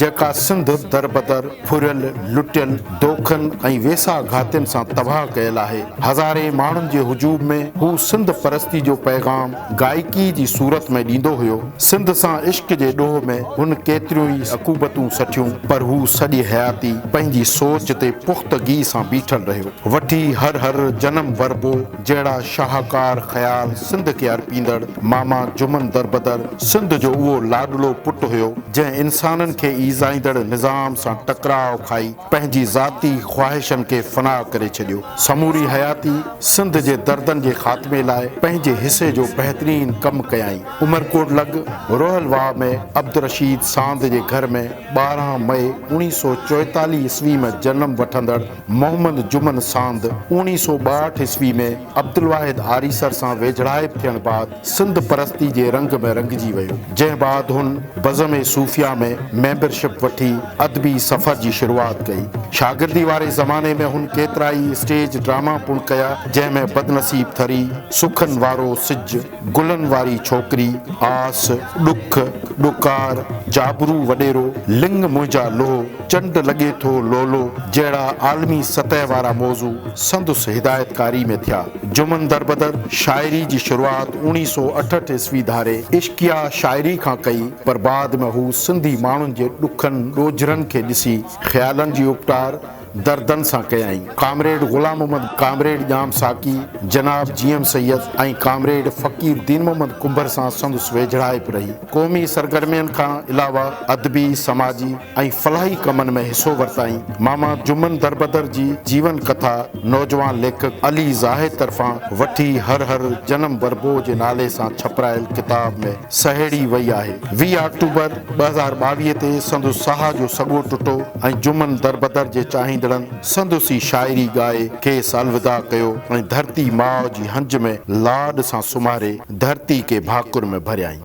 جيڪا سنڌ دربدر، ڦريل، لٽيل، دوکن ۽ ويساهه گهاتين سان تباهه ڪيل آهي. هزارين ماڻهن جي هجوم ۾ هو سنڌ پرستي جو پيغام گائڪي جي صورت ۾ ڏيندو هيو. سنڌ سان عشق جي ڏوهه ۾ هن ڪيتريون ئي عقوبتون سٺيون، پر هو سڄي حياتي پنهنجي سوچ تي پختگي سان بيٺل رهيو. وٺي هر هر جنم وربو. جهڙا شاهڪار خيال سنڌ کي ارپيندڙ ماما جمن دربدر سنڌ جو اهو لاڏلو پٽ هيو، جنهن انسانن کي ايذائيندڙ نظام سان ٽڪراء کائي پنهنجي ذاتي خواهشن کي فنا ڪري ڇڏيو. سموري حياتي سنڌ جي دردن جي خاتمي لاء پنهنجي حصي جو بهترين ڪم ڪيائين. عمرڪوٽ لڳ روهل واهه ۾ عبدالرشيد ساند جي گهر ۾ ٻارهن مئي اوڻيهه سؤ چوئيتاليهه عيسوي ۾ جنم وٺندڙ، محمد جمن ساند اوڻيهه سؤ ٻاهٺ عيسوي ۾ عبدالواحد آريسر سان ويجهڙائپ ٿيڻ بعد سنڌ پرستي جي رنگ ۾ رنگجي ويو، جنهن بعد هن بزم صوفيا ۾ ميمبر شپ وٺي ادبي سفر جي شروعات ڪئي. شاگردي واري زماني ۾ هن ڪيترائي اسٽيج ڊراما پڻ ڪيا، جنهن ۾ بدنصيب ٿري، سخن وارو سج، گلن واري ڇوڪري، آس، ڏک، ڏڪار، جابرو وڏيرو، لڱ منهنجا لوهه، چنڊ لڳي ٿو لولو جهڙا عالمي سطح وارا موضوع سندس هدايتڪاري ۾ ٿيا. جمن دربدر شاعري جي شروعات اوڻيهه سؤ اٺهٺ عيسوي ڌاري عشقيه شاعري کان ڪئي پر بعد ۾ هو سنڌي ماڻهن جي ڏکن ڏوجهرن کي ڏسي خيالن جي اپٽار، دردن سان ڪيائين. ڪامريڊ غلام محمد، ڪامريڊ ڄام ساقي، جناب G M Syed ۽ comrade Faqir Din Muhammad Kumbhar سان سندس ويجهڙائپ رهي. قومي سرگرمين کان علاوه ادبي، سماجي ۽ فلاحي ڪمن ۾ حصو ورتائين. ماما جمن دربدر جي جيون ڪٿا نوجوان ليکڪ علي زاهد طرفان وٺي هر هر جنم وربوء جي نالي سان ڇپرايل ڪتاب ۾. سهيڙي وئي آهي. ويهه آڪٽوبر ٻه هزار ٻاويهه تي سندس ساهه جو سڳو ٽٽو ۽ جمن دربدر جي چاهيندڙن سندس ئي شاعري ڳائي کيس الوداع ڪيو ۽ ڌرتي ماء جي هنج ۾ لاڏ سان سمهاري ڌرتي کي ڀاڪر ۾ ڀريائين.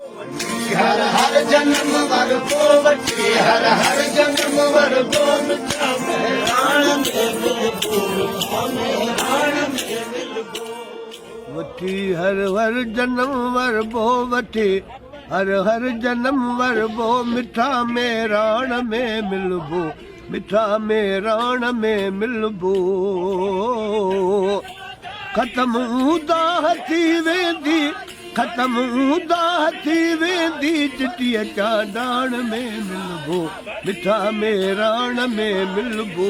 وٺي هر هر جنم ور بو وٺي هر هر جنم ور بو مٺا ميراڻ ۾ ملبو مٺا ميراڻ ۾ ملبو ختم اونداهه ٿي ويندي ختم اونداهه ٿي ويندي چٽي چانڊاڻ ۾ ملبو مٺا ميراڻ ۾ ملبو